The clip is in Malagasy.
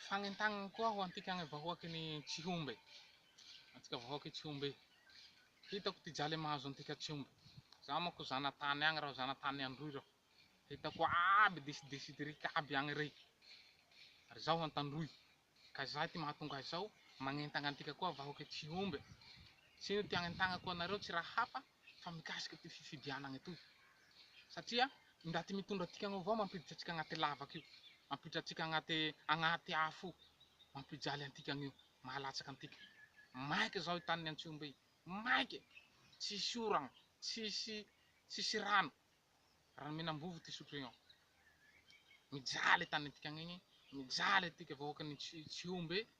Fanentanana koa ho antika any vahoaky ny Tsihombe, antsika vahoaky Tsihombe. Hitako ty jale mahazo antika Tsihombe. Za manko zanatany agny raho, zanatany Androy raho. Hitako aby disidisit rika aby agny rey. Ary zaho Antandroy. Ka zay ty mahatonga ahy zao magnentagna antika koa vahoaky Tsihombe. Tsy ino ty agnentagnako anareo tsy raha hafa fa mikasika ty fifidianagna toy. satria ingaty mitondra antsika agny avao mampiditra antsika agnaty lavaka io, mampiditra antsika agnaty agnaty afo io, mampijaly antika agny io, mahalatsaka antika, maika zao i tanin'i Antsihombe io, maika e, tsisy oragna, tsisy tsisy rano, rano menambovo ty sotro io, mijaly tanintika agny igny, mijaly antika vahoakan'i Tsihombe.